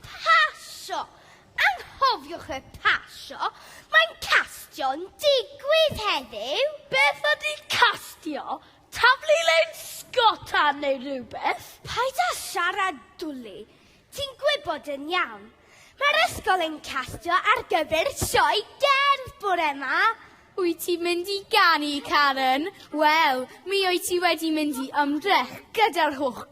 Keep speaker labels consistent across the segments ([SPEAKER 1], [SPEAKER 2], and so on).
[SPEAKER 1] Pasio! Anghofiwch y pasio! Mae'n castio'n digwydd heddiw! Beth ydy
[SPEAKER 2] castio? Taflu lein sgota neu rywbeth? Paid â
[SPEAKER 1] siarad dwli! Ti'n gwybod yn iawn. Mae'r ysgol yn castio ar gyfer sioe gerdd bore 'ma! Wyt ti'n
[SPEAKER 2] mynd i ganu, Karen? Wel, mi wyt ti wedi mynd i ymdrech gyda'r holl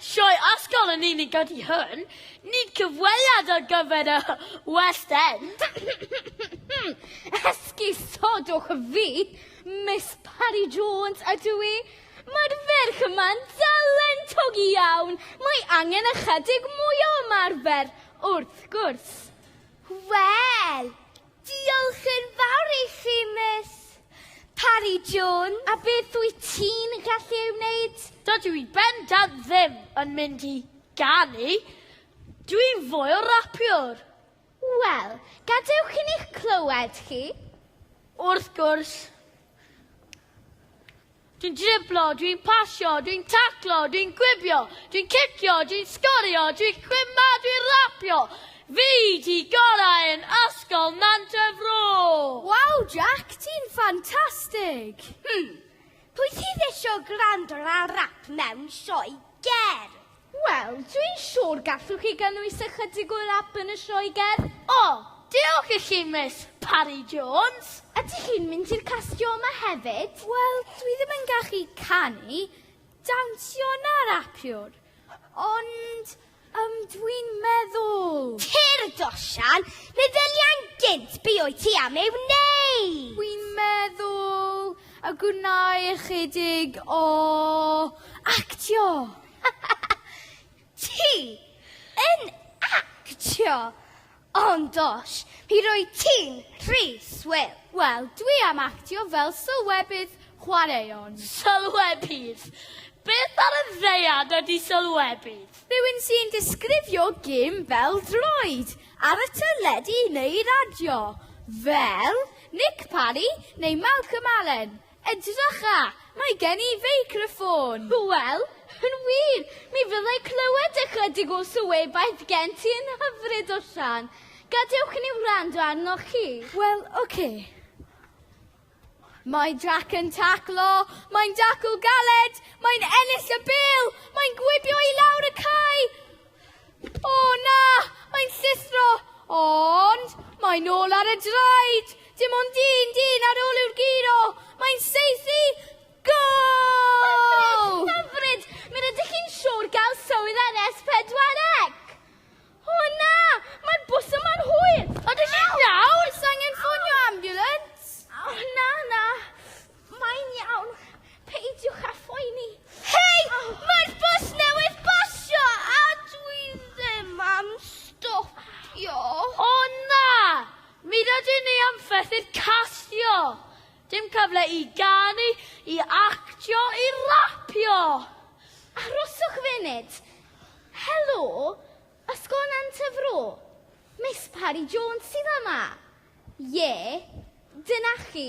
[SPEAKER 2] Sioe ysgol yn unig ydy hwn, nid cyfweliad ar gyfer y West End.
[SPEAKER 1] Esgusodwch fi, Miss Parry Jones ydw i. Mae'r ferch yma'n dalentog iawn, mae angen ychydig mwy o ymarfer, wrth gwrs. Wel, Diolch yn fawr i chi, Miss. Parry Jones. A beth wyt ti'n gallu ei wneud? Dydw i bendant
[SPEAKER 2] ddim yn mynd i ganu, dw i'n fwy o rapiwr. Wel,
[SPEAKER 1] gadewch i ni'ch clywed chi. Wrth
[SPEAKER 2] gwrs. Dwi'n driblo, dwi'n pasio, dwi'n taclo, dwi'n gwibio, dwi'n cicio, dwi'n sgorio, dwi'n chwimma, dwi'n rapio! Fi 'di gorau yn Ysgol Nant y Fro! Waw Jack, ti'n ffantastig! Hmm,
[SPEAKER 1] pwy sydd isio gwrando ar rap mewn sioe gerdd? Wel,
[SPEAKER 2] dwi'n siŵr gallwch chi gynnwys ychydig o rap yn y sioe gerdd. O, diolch i chi, Miss Parry Jones! Ydych chi'n mynd
[SPEAKER 1] i'r castio yma hefyd? Wel, dwi ddim yn
[SPEAKER 2] gallu canu, dawnsio na rapiwr. Ond, yym, dwi'n meddwl. Tir y
[SPEAKER 1] Dosian, meddyliai'n gynt be wyt ti am ei wneud! Dwi'n
[SPEAKER 2] meddwl y gwna i ychydig o actio.
[SPEAKER 1] Ti yn actio! Ond does, mi rwyt ti'n rhy swil. Wel, dwi am
[SPEAKER 2] actio fel sylwebydd chwaraeon. Sylwebydd? Beth ar y ddaear ydy sylwebydd? Rhywun sy'n disgrifio gêm bel droed ar y teledu neu radio, fel Nick Parry neu Malcolm Allen. Edrycha! Mae gen i feicroffôn! Wel,
[SPEAKER 1] yn wir, mi fyddai clywed ychydig o sylwebaeth gen ti yn hyfryd o Siân. Gadewch i ni wrando arnoch chi. Wel, oce.
[SPEAKER 2] Mae Jac yn taclo, mae'n dacl galed, mae'n ennill y bêl, mae'n gwibio i lawr y cae! O na! Mae'n llithro! Ond mae'n ôl ar y draed! Dim ond un dyn ar ôl yw'r giro! Mae'n saethu! Gol! Hyfryd! Mi
[SPEAKER 1] rydych chi'n siŵr gael swydd ar S4C! O na! Mae'r bws yma'n hwyr! Ydych chi'n iawn?
[SPEAKER 2] Oes angen ffonio ambiwlans? O na,
[SPEAKER 1] na. Mae'n iawn, peidiwch â phoeni. Hei! Mae'r bws newydd basio a dwi ddim am stopio. O
[SPEAKER 2] na! Mi rydyn ni am fethu'r castio! Dim cyfle i ganu, i actio, i rapio!
[SPEAKER 1] Aroswch funud. Helo, Ysgolnen Tŷ Fro. Miss Parry Jones sydd yma. Ie, dyna chi.